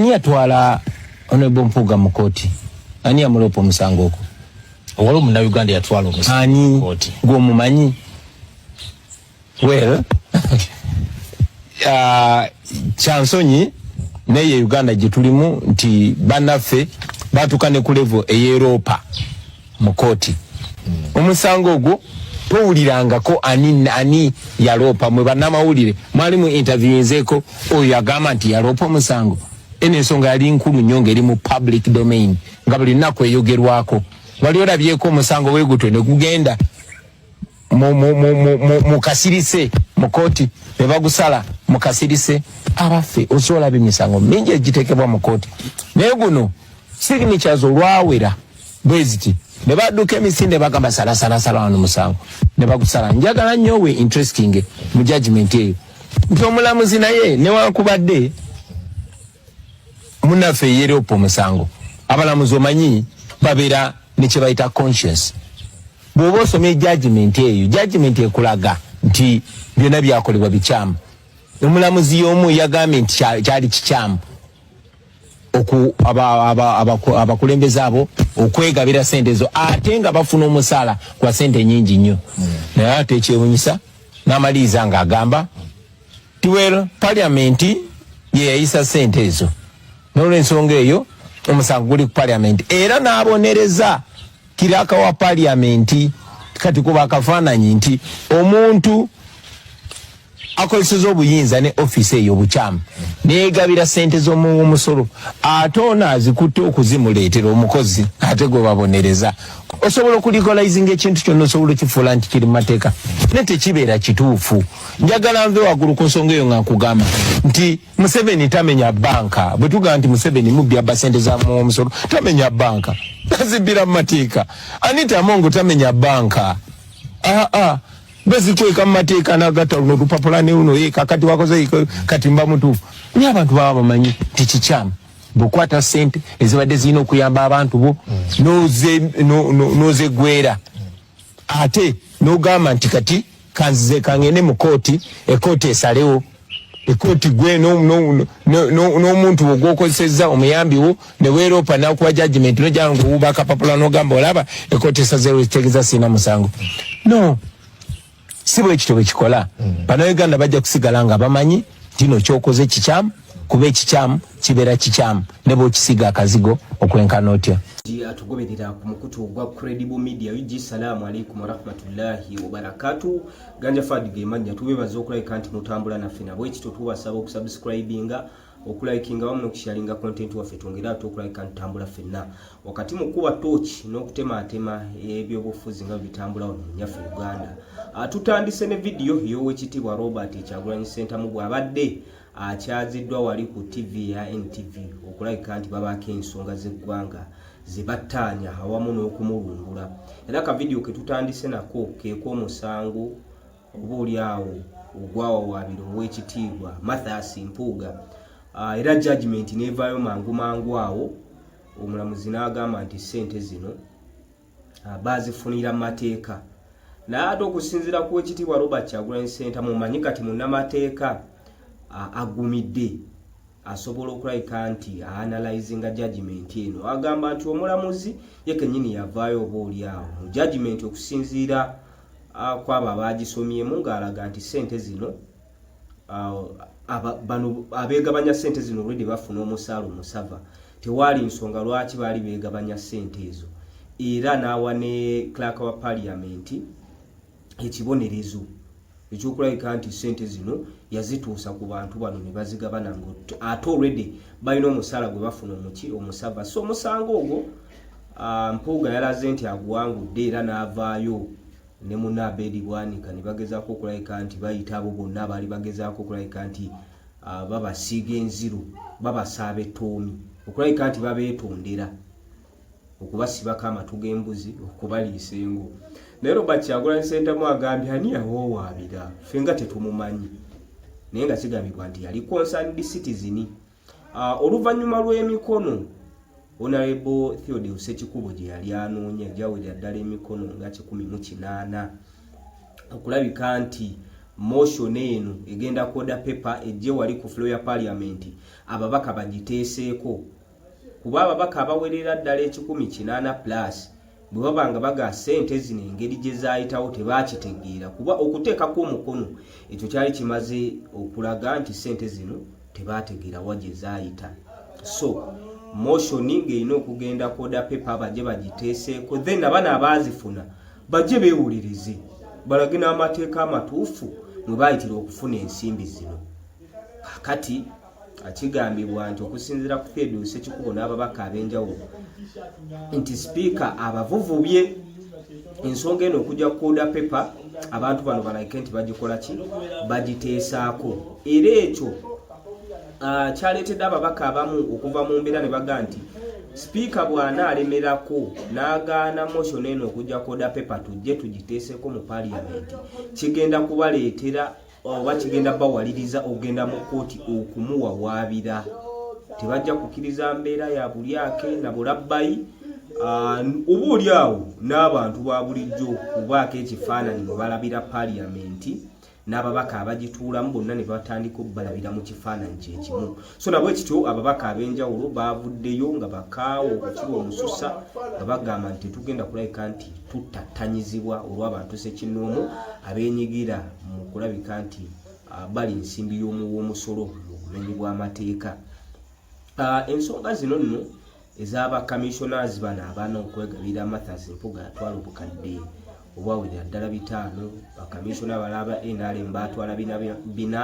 Ani yatwala Honorable Mpuuga mu kkooti? Ani yamuloopa omusango ogwo? Waliwo Munnayuganda yatwala omusango mu kkooti. Ani gw'omumanyi? Well, uh, kyansonyi naye Uganda gye tulimu nti bannaffe baatuuka ne ku levo ey'Eroopa. mu kooti omusango ogwo towulirangako ani ani yaloopa mwe bannamawulire mwali mu interviewinzeeko oyo agamba nti yaloopa omusango eno ensonga yali nkulu nnyo ngeri mu public domain nga buli nnaku eyogerwako wali olabyeko omusango wegutwe ne gugenda mukasirise mukooti nebagusala mukasirise abaffe osolaba emisango mingi egitekebwa mukooti naye guno signatures olwawera bweziti nebaduka emisinde bagamba salasalasala wano musango nebagusala njagala nyo we interesting mu judgment eyo nti omulamuzi naye newankubadde munafe yeri opo omusango abalamuzi omanyi babera nekyebayita conscience bwoba osomye judgment eyo judgment ekulaga nti byona byakolebwa bikyamu omulamuzi yomu yagambye nti kyali kikyamu abakulembeze abo okwegabira sente ezo ate nga bafuna omusala gwa sente nyingi nnyo hmm. naye ate ekyewunyisa namaliiza nga agamba Tiwel parliament yeyayisa sente ezo nolwensonga eyo omusango guli ku parliament era nabonereza kiraka wa parliament kati kuba akafaananyi nti omuntu akozeseza obuyinza ne ofisi eyo obukyamu negabira sente zomuwomusolo ate ono azikutte okuzimuleetera omukozi ate gwebabonereza osobola okulikolaizinga ekintu kyonna osobola okifuula nti kiri mumateeka naye tekibeera kituufu njagala nve waggulu ku nsonga eyo nga nkugamba nti museveni tamenya banka bwe tugamba nti museveni mubbya basente za muwomusolo tamenya banka tazibbira mu mateeka anita amongo tamenya banka aa ah, ah. bezikweka mu mateeka nagata luno olupapula neuno ye kakati wakoze kati mba mutuufu naye abantu baba bamanyi nti kikyamu bwokwata sente ezibadde zirina okuyamba abantu bo nozegwera ate nogamba nti kati kanzize kangende mu kooti ekooti esalewo ekooti gwe n'omuntu wo gwokozesezza omuyambi wo ne weeroopa nakuwa jajimenti nojaa nga owuuba akapapula nogamba olaba ekooti esazeewo ekitegeza sirina musango no si bwe kityo bwe kikola mm. bannayuganda bajja kusigala nga bamanyi tino kyokoze kikyamu kuba ekikyamu kibeera kikyamu ne bwokisiga akazigo okwenkana otya atugoberera ku mukutu ogwa credible media ug salaamu aleikum warahmatullahi wabarakatu ganja fad gemannya tubebaza okulabika nti mutambula naffe nabwekityo tubasaba okusubscribinga okulikinga wamu nokusharinga content waffe twongere ate okulabika ntambula fenna wakati mu kukuba tooki n'okutemaatema ebyobufuzi nga bitambula wano munyaffe uganda ah, tutandise ne vidiyo ey'owekitiibwa robert ekyagulanyi sentamu bw'abadde akyaziddwa wali ku tv ya ntv okulabika nti babaako ensonga z'eggwanga zebattaanya awamu n'okumulungula era ka vidiyo ketutandise nako keek'omusango oba oli awo ogwawawaabira ow'ekitiibwa Mathias Mpuuga ah, era judgment n'evaayo mangu mangu awo omulamuzi n'agamba nti ssente zino ah, baazifunira mu mateeka naye ate okusinziira ku wekitiibwa Robert Kyagulanyi Ssentamu omanyi kati munnamateeka ah, agumidde asobola okulabika nti aanalyzinga judgment eno agamba nti omulamuzi ye kenyini yavaayo oba oli awo mu judgment okusinziira kwabo abaagisomyemu ng'alaga nti ssente zino bano abeegabanya ssente zino olwedde bafuna omusaala omusava tewaali nsonga lwaki baali beegabanya ssente ezo era n'awa ne clark wa paliyamenti ekibonerezo ekyokulabika nti ssente zino yazituusa ku bantu bano ne bazigabana nga ate olwedde balina omusaala gwe bafuna omuki omusava so omusango ogwo Ah, Mpuuga yalaze nti aguwangudde era n'avaayo ne muna Abedi Bwanika ne bagezaako okulabika nti bayita abo bonna abaali bagezaako okulabika nti ah, babasiiga enziru babasaaba ettoomi okulabika nti babeetondera okubasibako amatu g'embuzi okubaliisa engo naye Robert Kyagulanyi Ssentamu agambye ani yawawaabira ffe nga tetumumanyi naye nga kigambibwa nti yali concerned citizen Uh, oluvannyuma lw'emikono onarebo theodi usekikubo gye yali anoonya gyawulira ddala emikono nga kikumi mu kinaana okulabika nti motion eno egenda koda pepa ejje wali ku flo ya paliamenti ababaka bagiteeseeko kuba ababaka abawerera ddala ekikumi kinaana plus bwe baba nga bagaa ssente zino engeri gye zaayitawo tebaakitegeera kuba okuteekako omukono ekyo kyali kimaze okulaga nti ssente zino tebaategeera wa gye zaayita so motioni ng'erina okugenda koda pepa bajje bagiteeseeko then abana abaazifuna bajje beewulirize balage n'amateeka amatuufu mwe baayitira okufuna ensimbi zino kakati Kigambibwa nti okusinzira ku Theodus Ekikubo n'ababaka ab'enjawulo nti sipiika abavuvubye ensonga eno okujja kukoda pepa abantu bano balaike nti bagikola ki bagiteesaako era ekyo ah, kyaleetedde ababaka abamu okuva mu mbeera ne baga nti sipiika bw'anaalemerako n'agaana motion eno okujja koda pepa tujje tugiteeseeko mu paliyamenti kigenda kubaleetera oba kigenda bawaliriza okugenda mu kkooti okumuwawaabira tebajja kukkiriza mbeera ya bulyake na bulabbayi ah, oba oli awo n'abantu ba bulijjo okubaako ekifaananyi mwe balabira paliyamenti n'ababaka abagituulamu bonna ne batandika okubalabira mu kifaananyi kye kimu so nabwe kityo ababaka ab'enjawulo baavuddeyo nga bakaawo okukirwa omususa nga bagamba nti tetugenda kulabika nti tuttattanyizibwa olw'abantu sekinnoomu abeenyigira mu kulabika nti ah, bali nsimbi y'omuwa omusolo mu bumenyi bw'amateeka ah, ensonga zino nno ez'aba kamishonazi bano abana okwegabira Mathas Mpuga yatwala obukadde obwawulira ddala bitaano bakamisona abalala ba nrm baatwala bina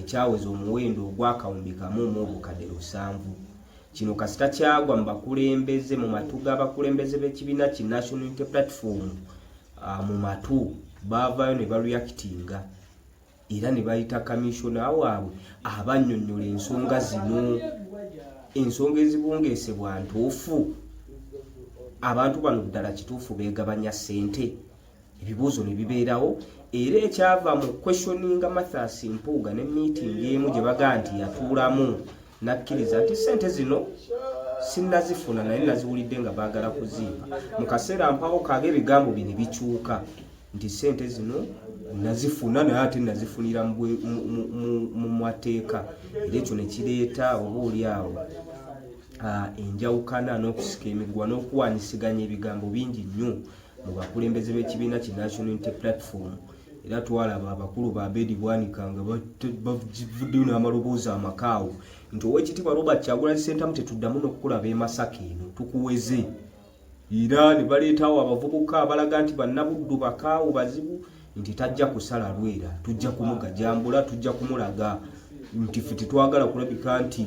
ekyaweza omuwendo ogwakawumbi kamu mu obukadde lusanvu kino kasita kyagwa mu bakulembeze mu matu g'abakulembeze b'ekibiina ki national unity platform ah, mu matu baavaayo ne baluyakitinga era ne bayita kamishona waabwe abannyonnyola ensonga zino ensonga ezibungeesebwa ntuufu abantu bano ddala kituufu beegabanya ssente ebibuuzo ne bibeerawo era ekyava mu questioninga mathas mpuuga ne miitingi emu gye baga nti yatuulamu Nakkiriza nti ssente zino sinnazifuna naye naziwulidde nga baagala kuzimba. Mu kaseera mpawo kaage ebigambo bino bikyuka nti ssente zino nazifuna naye ate nazifunira mu mateeka era ekyo ne kireeta oba oli awo enjawukana n'okusika emiguwa n'okuwaanyisiganya ebigambo bingi nnyo. mu bakulembeze b'ekibiina ki National Unity Platform era twalaba abakulu ba Abedi Bwanika nga bavuddeyo n'amaloboozi amakaawo nti ow'ekitiibwa Robert Kyagulanyi Ssentamu tetuddamu n'okukulaba e Masaka eno tukuweze era ne baleetawo abavubuka abalaga nti bannabuddu bakaawo bazibu nti tajja kusala lwera tujja kumugajambula tujja kumulaga nti ffe tetwagala kulabika nti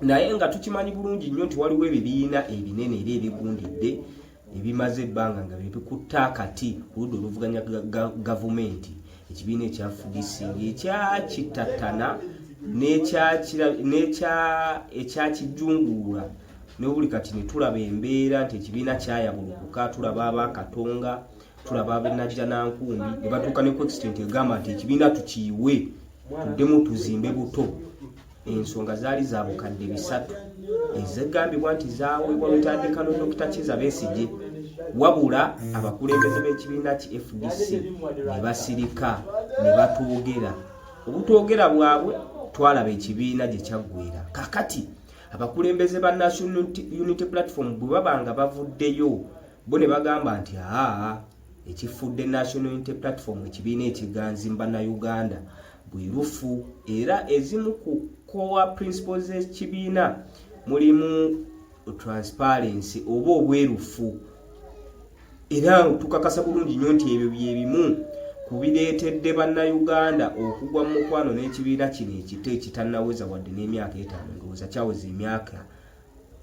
naye nga tukimanyi bulungi nnyo nti waliwo ebibiina ebinene era ebigundidde ebimaze ebbanga nga byebikutte akati oludda oluvuganya gavumenti ekibiina ekya fdc ngekyakitatana ekyakijunguula nobuli kati netulaba embeera nti ekibiina kyayabulukuka tulaba abakatonga tulaba abenajja nankumbi nebatuuka ne kuextent egamba nti ekibiina tukiyiwe tuddemu tuzimbe buto ensonga zaali za bukadde bisatu ezigambibwa nti zaweebwa lutandikano dokita kiza besigye wabula abakulembeze b'ekibiina ki fdc ne basirika ne batoogera obutwogera bwabwe twalaba ekibiina gye kyaggwera kakati abakulembeze ba national unity platform bwe baba nga bavuddeyo bo ne bagamba nti aa ekifudde national unity platform ekibiina ekiganzi mu bannayuganda bwerufu era ezimu ku core principles z'ekibiina mulimu transparency oba obwerufu era tukakasa bulungi nnyo nti ebyo bye bimu ku bireetedde bannayuganda okugwa mu mukwano n'ekibiina kino ekito ekitannaweza wadde n'emyaka etaano ndowooza kyaweza emyaka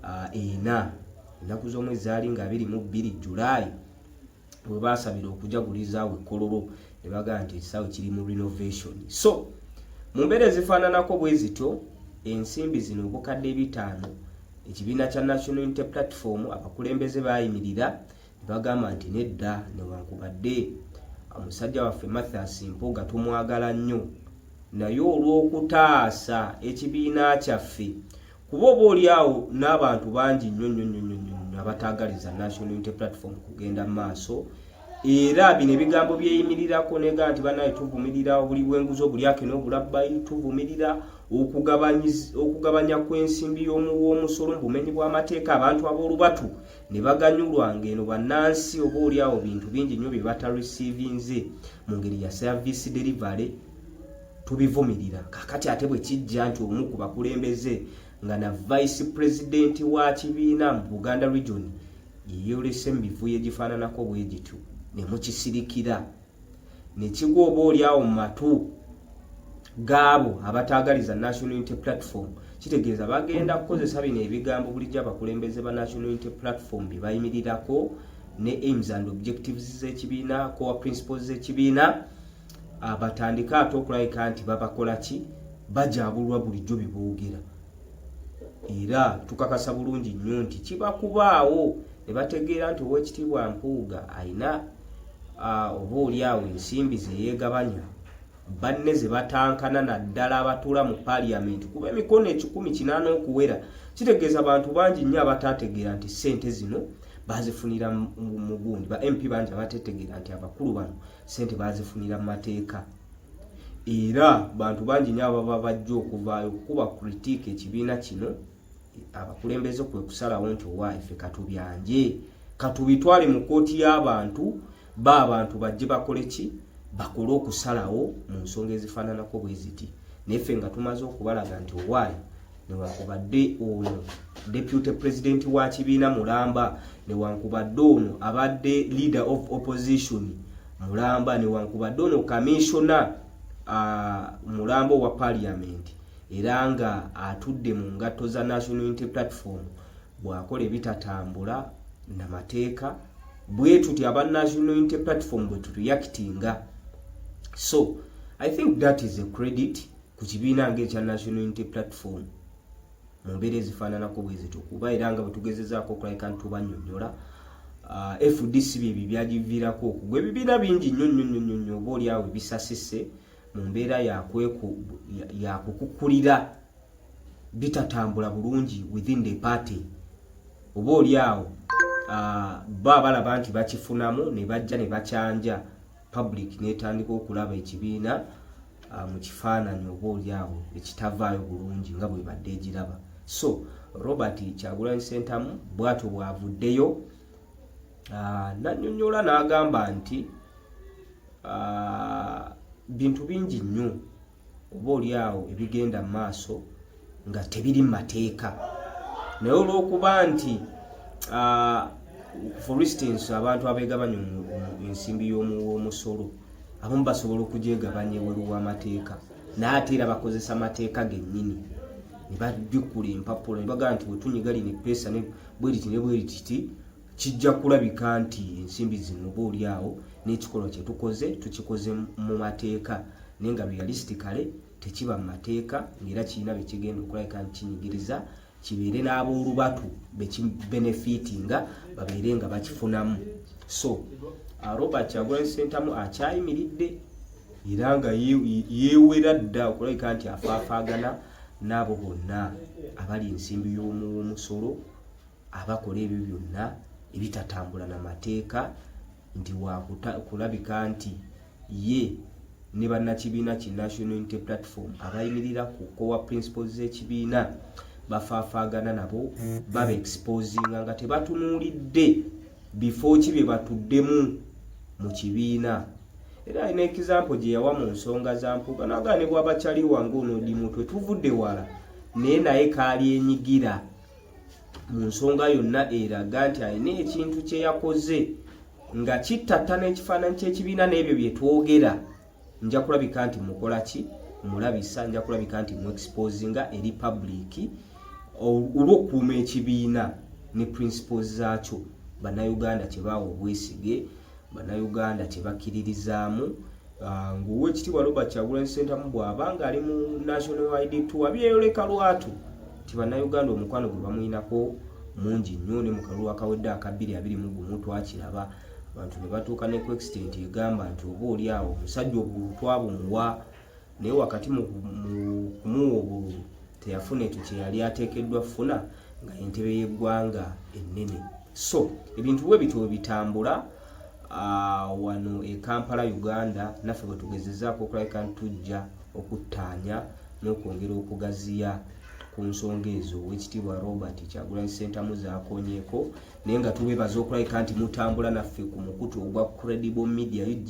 ah, ena ennaku z'omwezi zaali nga abiri mu bbiri julaayi we baasabira okujaguliza awo ekkololo ne bagamba nti ekisaawe kiri mu renovation so mu mbeera ezifaananako bwe zityo ensimbi zino obukadde ebitaano ekibiina kya national unity platform abakulembeze baayimirira ne bagamba nti nedda newankubadde omusajja waffe mathias mpuga tumwagala nnyo naye olw'okutaasa ekibiina kyaffe kuba oba oli awo n'abantu bangi nnyo nnyo nnyo nnyo nnyo nnyo abataagaliza national unity platform kugenda mu maaso era bino ebigambo byeyimirirako nega nti banaye tuvumirira obuli bwenguzi obulyake n'obulabbayi tuvumirira okugabanya kw'ensimbi y'omuw'omusolo mu bumenyi bw'amateeka abantu ab'olubatu ne baganyulwa ng'eno bannansi oba oli awo bintu bingi nnyo bye batarisiivinze mu ngeri ya service delivery tubivumirira kakati ate bwe kijja nti omu ku bakulembeze nga na vice president wa kibiina mu buganda region yeyolese mu bivuyo egifaananako bwe gityo ne mukisirikira ne kigwa oba oli awo mu matu gaabo abataagaliza national unity platform kitegeeza bagenda kukozesa bino ebigambo bulijjo abakulembeze ba national unity platform bye bayimirirako ne aims and objectives z'ekibiina core principles z'ekibiina ah, batandike ate okulabika nti babakola ki bajabulwa bulijjo beboogera era tukakasa bulungi nnyo nti kiba kubaawo ne bategeera nti ow'ekitiibwa mpuuga alina ah, oba oli awo ensimbi zeyeegabanya banne ze batankana naddala abatuula mu paliyamenti kuba emikono ekikumi kinaana okuwera kitegeeza bantu bangi nnyo abataategeera nti ssente zino bazifunira mu gundi ba mp bangi abatetegeera nti abakulu bano sente bazifunira mu mateeka era bantu bangi nyo ababa bajja okuvaayo okukuba kritik ekibiina kino abakulembeze kwe kusalawo nti owa ife katubyanje katubitwale mu kooti y'abantu ba abantu bajje bakole ki bakole okusalawo mu nsonga ezifaananako bwe ziti naye ffe nga tumaze okubalaga nti owaayi newankubadde ono deputy president wa kibiina mulamba newankubadde ono abadde leader of opposition mulamba newankubadde ono kamissiona uh, mulamba owa parliament era nga atudde mu ngatto za national unity platform bwakola ebitatambula na mateeka bwe tuti aba national unity platform bwe tureactinga so i think that is a credit ku kibiina ng'ekya National Unity Platform mu mbeera ezifaananako bwe zityo kuba era nga bwe tugezezaako okulabika nti tubanyonyola uh, fdc byebyo byagiviirako okugwa ebibiina bingi nnyo nnyo nnyo nnyo nnyo oba olyawo ebisasise mu mbeera yakukukulira bitatambula bulungi within the party oba olyawo uh, bo abalaba nti bakifunamu ne bajja ne bakyanja public netandika okulaba ekibiina uh, mu kifaananyi oba olyawo ekitavaayo bulungi nga bwebadde egiraba so robert kyagulanyi sentamu bwatyo bwavuddeyo uh, nanyonyola n'agamba nti uh, bintu bingi nnyo oba oli awo ebigenda mu maaso nga tebiri mu mateeka naye olw'okuba nti ah, for instance abantu abegabanya ensimbi y'omusolo abamu basobola okugyegabanya eweru w'amateeka naye ate era bakozesa mateeka gennyini ne bajjukula empapula ne bagamba nti bwetunyiga lino eppeesa bweriti ne bwerititi Kijja kulabika nti ensimbi zino oba oli awo n'ekikolwa kye tukoze tukikoze mu mateeka naye nga realistically tekiba mu mateeka ng'era kirina be kigenda okulabika nti kinyigiriza kibeere n'aboolubatu be kibenefitinga babeere nga bakifunamu so uh, robert kyagulanyi sentamu akyayimiridde era nga yeewera dda okulabika nti afaafaagana n'abo bonna abali ensimbi y'omuw'omusolo abakola ebyo byonna ebitatambula na mateeka nti wakulabika nti ye ne bannakibiina ki national unity platform abayimirira ku kowa principles z'ekibiina bafaafaagana nabo baba exposinga nga tebatunuulidde bifo ki bye batuddemu mu kibiina era alina ekizampo gye yawa mu nsonga za mpuga naga ne bwaba caliwa ng'ono dimutwe tuvudde wala naye naye kaali enyigira mu nsonga yonna eraga nti alina ekintu kye yakoze nga kittatta n'ekifaananyi ky'ekibiina n'ebyo bye twogera nja kulabika nti mukola ki mulabisa nja kulabika nti mu exposinga eri public olw'okukuuma ekibiina ne principles zaakyo bannayuganda kye baawa obwesige Bannayuganda kye bakkiririzaamu ah, ng'owekitiibwa Robert Kyagulanyi Ssentamu bw'aba ng'ali mu National ID Tour byeyoleka lwatu nti Bannayuganda omukwano gwe bamuyinako mungi nnyo ne mu kalulu akawedde aka bbiri abiri mu gumu twakiraba abantu ne batuuka ne ku extent egamba nti oba oli awo omusajja obululu twabumuwa naye wakati mu kumuwa obululu teyafuna ekyo kye yali ateekeddwa funa nga entebe y'eggwanga ennene so ebintu bwe bityo webitambula ah, wano e kampala uganda naffe bwe tugezezaako okulabika nti tujja okuttaanya n'okwongera okugaziya ku nsonga ezo owekitiibwa robert kyagulanyi sentamu zakonyeeko naye nga tubebaza okulabika nti mutambula naffe ku mukutu ogwa credible media ug